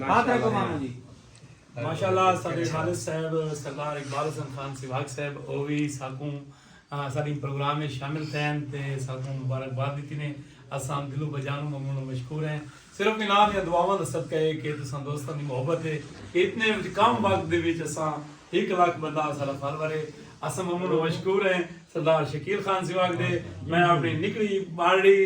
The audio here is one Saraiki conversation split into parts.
ہاتھ رکھو ماموں جی ماشاءاللہ ساڈے والد صاحب سردار اقبال حسن خان سواگ صاحب او وی ساکوں ساڈی پروگرام میں شامل تھین تے ساکوں مبارکباد دتی نے اساں دلو بجانو ممنون و مشکور ہیں صرف انہاں دی دعاواں دا صدقہ ہے کہ تساں دوستاں دی محبت ہے اتنے کم وقت دے وچ اساں ہک لاکھ بندہ اساڈا فالوور ہے اساں ممنون و مشکور ہیں سردار شکیل خان سواگ دے میں اپنی نکڑی باڑی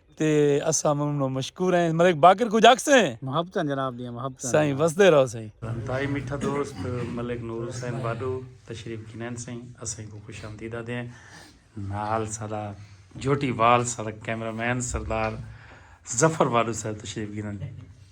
تے اساں ممنون و مشکور ہیں ملک باقر کچھ آکھ سے محبتاں جناب دیاں محبتاں سائیں وسدے رہو سائیں انتہائی میٹھا دوست ملک نور حسین باڈو تشریف گھنین سائیں اساں کو خوش آمدید آدھے ہیں نال سادا جھوٹی وال سادا کیمرہ مین سردار ظفر باڈو صاحب تشریف گھنن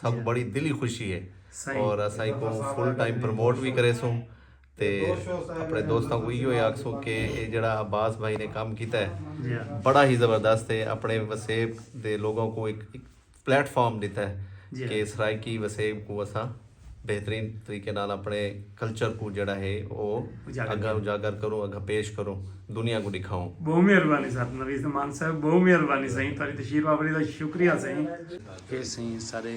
سانکوں بڑی دلی خوشی ہے اور اساں ایکوں فل ٹائم پروموٹ وی کریسوں تے اپنے دوستاں کوں ایہو ہی آکھسوں کہ اے جیڑھا عباس بھائی نے کم کیتا ہے بڑا ہی زبردست ہے اپنے وسیب دے لوگاں کوں ہک پلیٹ فارم ڈتا ہے کہ سرائیکی وسیب کوں اساں بہترین طریقے نال اپنے کلچر کوں جیڑھا ہے او اگاں اجاگر کروں اگاں پیش کروں دنیا کوں ڈکھاؤں۔ بہوں مہربانی سر نوید امان صاحب بہوں مہربانی سائیں تہاڈی تشریف آوری دا شکریہ سائیں۔ پیسیں سارے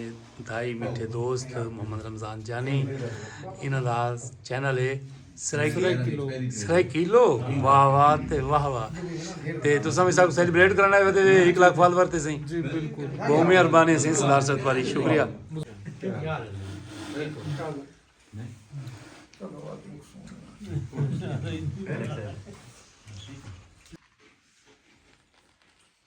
دھائی میٹھے دوست محمد رمضان جانی انہاں دا چینل ہے سرائیکیلو واہ واہ تے واہ واہ تے تساں بھی سب سیلیبریٹ کرنا ہے تے ایک لاکھ فالوور تے سیں جی بالکل بہت مہربانی سیں سردار صاحب تمہاری شکریہ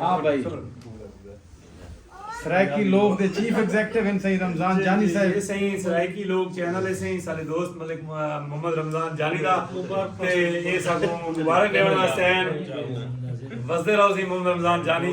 ہاں بھائی سرائیکی لوگ دے چیف ایگزیکٹو ہیں سہی رمضان جانی جی، صاحب سہی سرائیکی لوگ چینل ہے سہی سارے دوست ملک محمد رمضان جانی دا تے اے سب مبارک دیوان واسطے ہیں وزدے رہو سی محمد رمضان جانی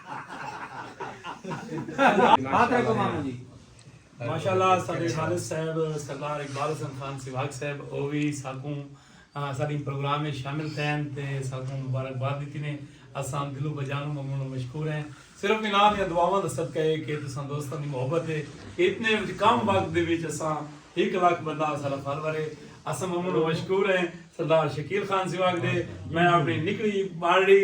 ماشاءاللہ سارے والد صاحب سردار اقبال حسن خان سواگ صاحب او وی ساکوں ساری پروگرام میں شامل تھین تے ساکوں مبارکباد دیتی نے اساں دلوں بجانوں ممنون و مشکور ہیں صرف انہاں دی دعاواں دا صدقہ ہے کہ تساں دوستاں دی محبت ہے کہ اتنے کم وقت دے وچ اساں ہک لاکھ بندہ اساڈا فالوور ہے اساں ممنون و مشکور ہیں سردار شکیل خان سواگ دے میں اپنی نکڑی ماڑی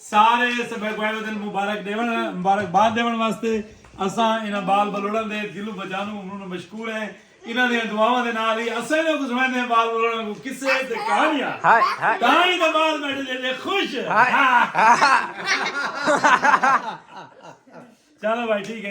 سارے اس بھیکوائے ودن مبارک ڈیون مبارک باد ڈیون واسطے اساں انہاں بال بلوڑاں دے دلوں بجانوں ممنون مشکور ہیں انہاں دیاں دعاواں دے نال ہی اساں انہاں کوں سنڑیندے ہیں بال بلوڑاں کوں قصے تے کہانیاں تاں ہی تے بال بیٹھے جے جے خوش چلو بھائی ٹھیک ہے